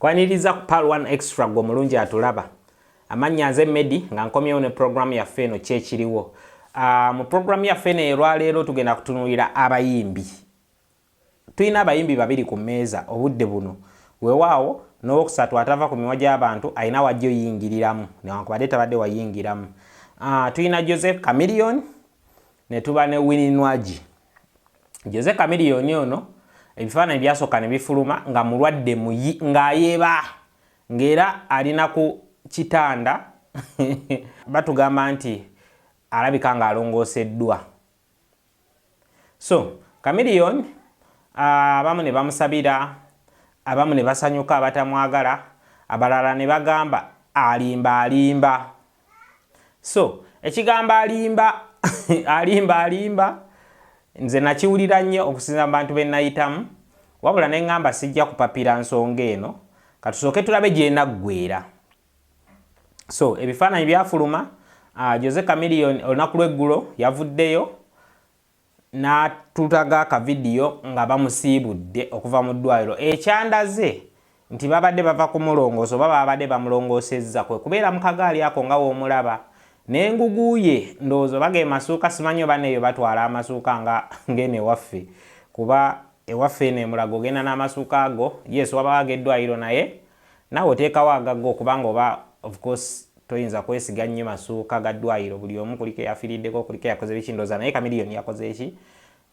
Kwaniriza ku pal one extra gwe omulungi atulaba. Amannya nze Medi nga nkomyewo ne program yaffe eno kyekiriwo. Uh, mu program yaffe eno elwaleero tugenda kutunulira abayimbi. Tulina abayimbi babiri ku mmeeza obudde buno. Wewaawo n'owokusatu atava ku miwa gy'abantu alina wajja oyingiriramu newankubadde tabadde wayingiramu. Uh, tulina Joseph Chameleon ne tuba ne Winnie Nwagi. Jose Chameleone ono ebifaananyi byasooka ne bifuluma nga mulwadde muyi ng'ayeba ng'era alina ku kitanda batugamba nti alabika ng'alongooseddwa so Chameleone ah, abamu ne bamusabira abamu ne basanyuka abatamwagala abalala ne bagamba alimba alimba so ekigambo alimba alimba alimba nze nakiwulira nnyo okusinza mu bantu benayitamu wabula neŋŋamba sijja kupapira nsonga eno katusooke tulabe gyenaggwera so ebifaananyi byafuluma uh, jose camilion olunaku lweggulo yavuddeyo n'atutaga akavidiyo nga bamusiibudde okuva mu ddwaaliro ekyandaze nti baabadde bava kumulongoosa oba baabadde bamulongoosezza kwe kubeera mu kagaali ako nga w'omulaba n'engugu ye ndowooza oba ge masuuka simanyi oba n'eyo batwala amasuuka nga ng'eno ewaffe kuba ewaffe eno e Mulago ogenda n'amasuuka ago yes wabaawo ag'eddwaaliro naye Nawe teekawo agago kubanga oba of course toyinza kwesiga nnyo masuuka ga ddwayiro buli omu kuliko eyafiriddeko kuliko eyakoze biki ndoza naye Chameleon yakoze ki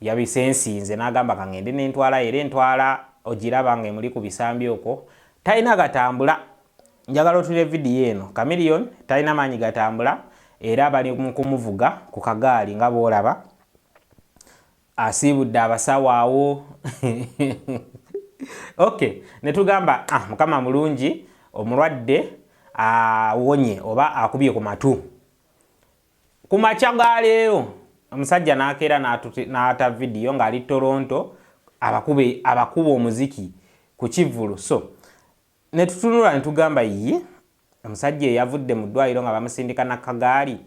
yabisensinze nagamba kangende nentwala era entwala ogiraba nga emuli ku bisambi okwo talina gatambula njagala otulire vidiyo eno Chameleon talina maanyi gatambula era bali mukumuvuga ku kagaali nga bwolaba asiibudde abasawo awo ok netugamba ah, mukama mulungi omulwadde awonye oba akubye ku matu ku makya ga leero omusajja nakeera n'ata vidiyo ng'ali toronto abakuba omuziki ku kivvulu so Ne tutunula ne tugamba, Yii, omusajja eyavudde mu ddwaliro nga bamusindika na kagaali,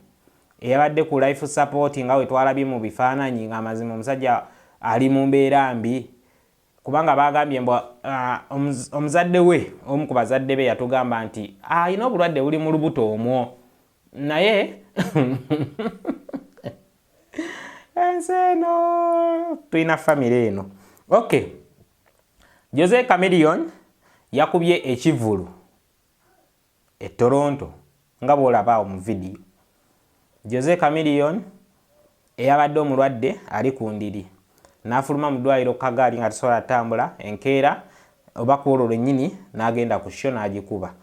eyabadde ku life support nga bwe twalabye mu bifaananyi, nga mazima omusajja ali mu mbeera mbi. Kubanga baagambye mbu, ah, omuzadde we, omu ku bazadde be yatugamba nti, Alina obulwadde buli mu lubuto omwo. Naye, ensi eno! Tulina famire eno. Okay. Jose Chameleone yakubye ekivulu e Toronto nga bw'olaba awo mu vidiyo. Jose Chameleone eyabadde omulwadde ali ku ndiri n'afuluma mu ddwaliro ku kagaali nga tasobola atambula enkeera oba ku olwo lwennyini n'agenda ku sho n'agikuba.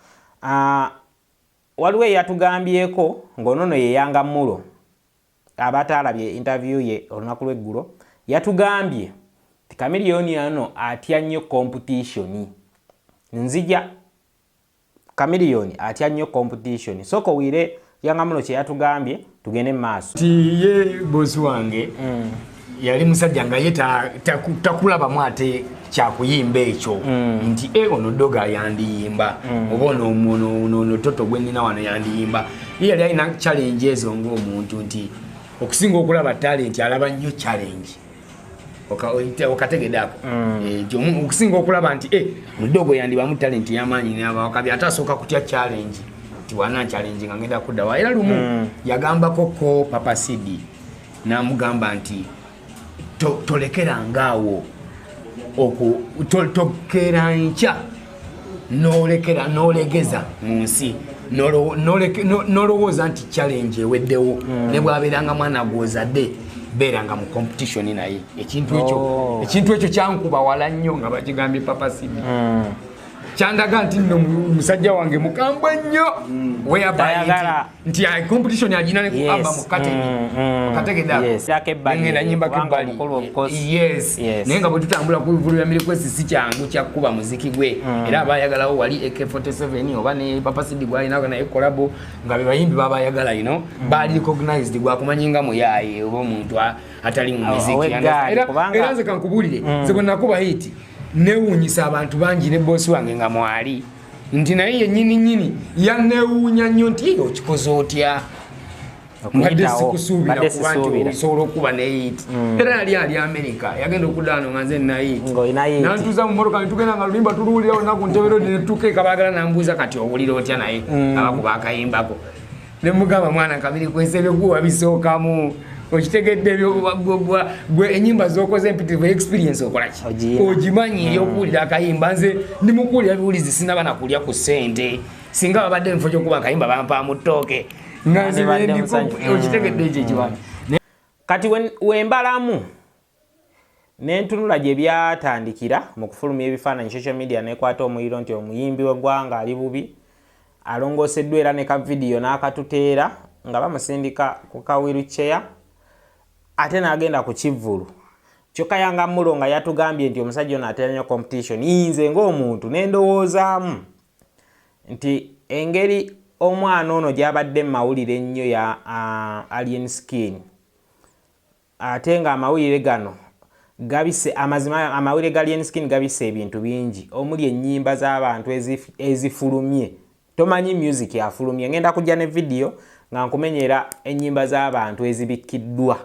Waliwo eyatugambyeko ng'onono yeyanga mulo. Abataalabye interview ye olunaku lw'eggulo yatugambye nti Chameleone ono atya nnyo competition. Nzija Chameleone atya nnyo competition. Sooka owulire Yanga Mulo kye yatugambye tugende mu maaso. Nti ye boss wange. Mm. yali musajja nga ye takulabamu ate kyakuyimba ekyo mm. nti e ono doga yandiyimba mm. oba ono toto gwenina wano yandiyimba ye yali alina challenge ezo ngaomuntu nti okusinga okulaba talenti alaba nnyo challenge okategedako mm. eh, okusinga okulaba nti eh, mudogo yandibamu talenti yamaanyi nabawakabi ate asooka kutya challenge nti wana challenge nga ngenda kuddawa era lumu yagambako ko papa cd n'amugamba nti tolekerangaawo tokeera nkya n'olekera n'olegeza mu nsi nolowooza nti challenge eweddewo hmm. ne bwabeeranga mwana gwozadde beeranga mu competition naye ekintu ekyo oh. ekintu ekyo kyankuba wala nnyo nga bakigambye papa sidi hmm. kyandaga nti nno musajja wange mukambwe nnyo hmm. weyabaa nti ya competition ya jina neku amba mukate mm, mm, mukatege da yes yake bali ngenda nyimba kimbali mkolo of course yes, yes. nenga bwe tutambula ku vulu ya milikwesi si kyangu kya kuba muziki gwe mm. era abayagala wali AK47 oba ne Papa Sidi gwa ina kana ekolabo ngabe bayimbi baba yagala you know mm. bali recognized gwa kumanyinga mu yaye obo muntu atali mu muziki era era nze kankubulire mm. zibona kuba hiti newunyisa abantu bangi ne boss wange nga mwali nti naye yenyini nyini yanewuunya nnyo nti eyo okikoze otya mbadde sikusuubira kuba nti osobola okuba neyit mm. era yali ali amerika yagenda okudaano nga nze nayit nantuuza mu motoka netugenda nga lulimba tuluwulirawo naku ntebero netukeeka bagala nambuuza kati owulira otya naye mm. abakuba akayimbako ne mugamba mwana kamiri kwese ebyoggwa wabisookamu okitegedde ebyoggwa gwe enyimba zokoze empitirivu experience okolaki ogimanyi hmm. eyokuwulira akayimba nze ndimukuwulira biwulizi sinaba nakulya ku sente singa babadde mufo kyokuba akayimba bampa mu ttooke nga nze okitegedde ekyo ekiwange kati wembalamu Nentunula gye byatandikira mu kufulumya ebifaananyi social media nekwata omuliro nti omuyimbi w'eggwanga ali bubi alongooseddwa era ne ka vidiyo n'akatuteera nga bamusindika ku ka wheelchair ate n'agenda ku kivvulu kyokka yanga mulo nga yatugambye nti omusajja ono atera nnyo competition yinze ng'omuntu ne ndowoozaamu nti engeri omwana ono gy'abadde mu mawulire ennyo ya uh, alien skin Ate nga amawulire gano gabise amazima amawulire ga Lien Skin gabise ebintu bingi omuli ennyimba z'abantu ezifulumye tomanyi music afulumye ngenda kujja ne video nga nkumenyera ennyimba z'abantu ezibikkiddwa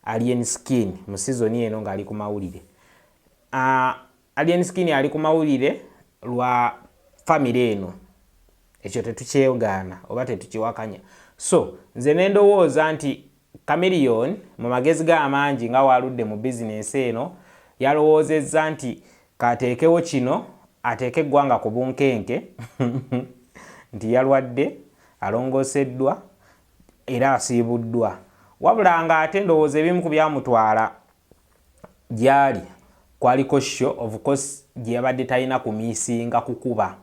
Alien Skin mu sizoni eno ng'ali ku mawulire. Ah, Alien Skin ali ku mawulire lwa famire eno, ekyo tetukyegaana oba tetukiwakanya. So nze ne ndowooza nti Chameleone mu magezi ge amangi nga waaludde mu bizinensi eno yalowoozezza nti k'ateekewo kino ateeke eggwanga ku bunkenke nti yalwadde, alongooseddwa era asiibuddwa. Wabula ng'ate ndowooza ebimu ku byamutwala. Gyali kwaliko show of course gyeyabadde talina kumisinga kukuba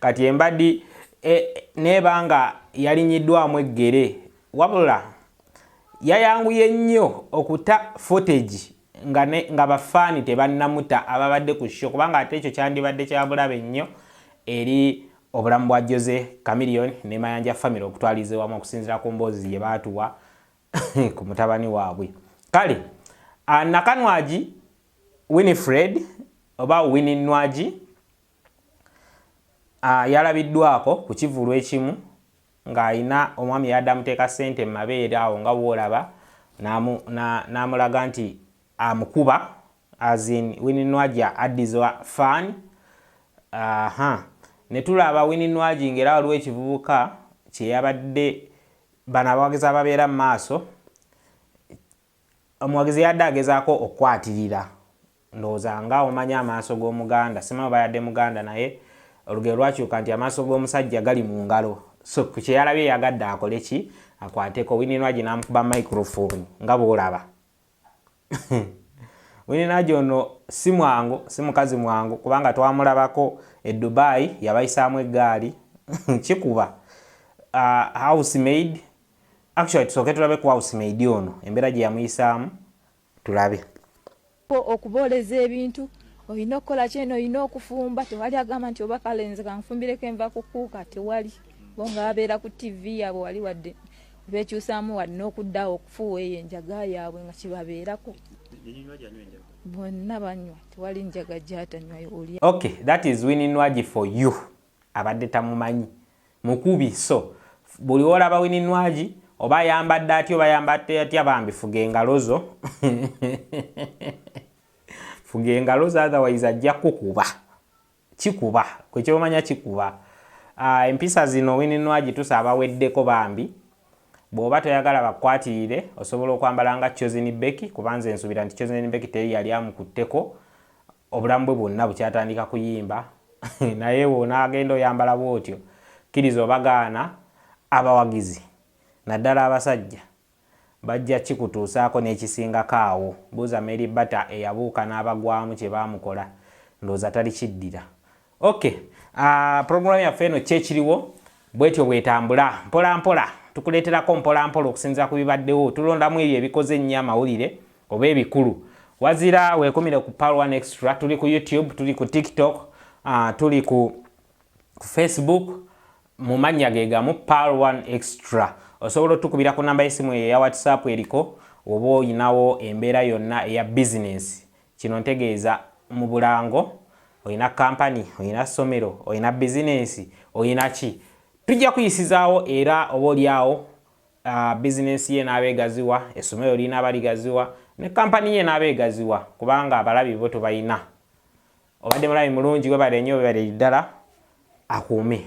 kati embadi e, neba nga yalinyiddwamu eggere wabula yayanguye nnyo okuta footage nga, nga bafaani tebannamuta ababadde ku sho kubanga ate ekyo kyandibadde kyabulabe nnyo eri obulamu bwa jose camilion ne mayanja famire okutwaliza ewamu okusinzira ku mboozi gye baatuwa ku mutabani waabwe kale ah, nakanwagi winifred oba wini nwagi ah, yalabiddwako ku kivulu ekimu ng'alina omwami yadde amuteeka ssente mu mabeere awo nga woolaba n'amulaga nti amukuba azin wini nwagi addiza faani aha ne tulaba wini nwagi ng'era waliwo ekivubuka kye yabadde Bano abawagizi ababeera mu maaso, omuwagizi yadde agezaako okukwatirira ndowooza nga omanyi amaaso g'omuganda sima oba yadde muganda naye olugero lwakyuka nti amaaso g'omusajja gali mu ngalo so ku kyeyalabye yagadde akole ki akwateko wininwagi n'amukuba microphone nga bw'olaba wininaji ono si mwangu si mukazi mwangu kubanga twamulabako e dubai yabayisaamu eggaali kikuba uh, house maid actually tusooke tulabe ku house maid ono embeera gye yamuyisaamu tulabe okubooleza ebintu olina okukola kyeno olina okufumba tewali agamba nti oba kalenze kanfumbireko enva kukuuka tewali bo nga babeera ku tv yabwe wali wadde bekyusaamu wali n'okuddawo okufuuwa eyo enjaga yaabwe nga kibabeerako bonna banywa tewali njaga gyatanywayo oli ok that is wininwagi for you abadde tamumanyi mukubi so buli wolaba wininwagi oba ayambadde atya oba ayambadde atya bambi fuga engalo zo fuga engalo zo otherwise ajja kukuba Kikuba gwe kyomanya kikuba. Uh, empisa zino Winnie Nwagi tusaba weddeko bambi. Bwoba toyagala bakukwatirire osobola okwambala nga Chosen Becky kuba nze nsubira nti Chosen Becky teri yali amukutteko obulamu bwe bwonna bukyatandika kuyimba naye wonaagenda oyambala bwotyo kkiriza obagaana abawagizi naddala abasajja Bajja kikutuusaako n'ekisingako awo. Buuza Mary Bata eyabuuka n'abagwamu kye baamukola. Ndowooza talikiddira. Ok, program yaffe eno Kyekiriwo bwetyo bwetambula. Mpola mpola, tukuleeterako mpola mpola okusinziira ku bibaddewo. Tulondamu ebyo ebikoze ennyo amawulire oba ebikulu. Wazira weekumire ku Pearl One Extra. Tuli ku YouTube, tuli ku TikTok, tuli ku Facebook, mu mannya ge gamu pal 1 extra osobola otukubira ku namba y'essimu eyo eya whatsapp eriko oba olinawo embeera yonna eya bizinensi kino ntegeeza mu bulango olina kampani olina ssomero olina bizinensi olina ki tujja kuyisizaawo era oba olyawo uh, bizinensi ye n'aba egaziwa essomero lirina aba ligaziwa ne kampani ye n'aba egaziwa kubanga abalabi bo tubalina obadde mulabi mulungi webale nnyo webale ddala akuume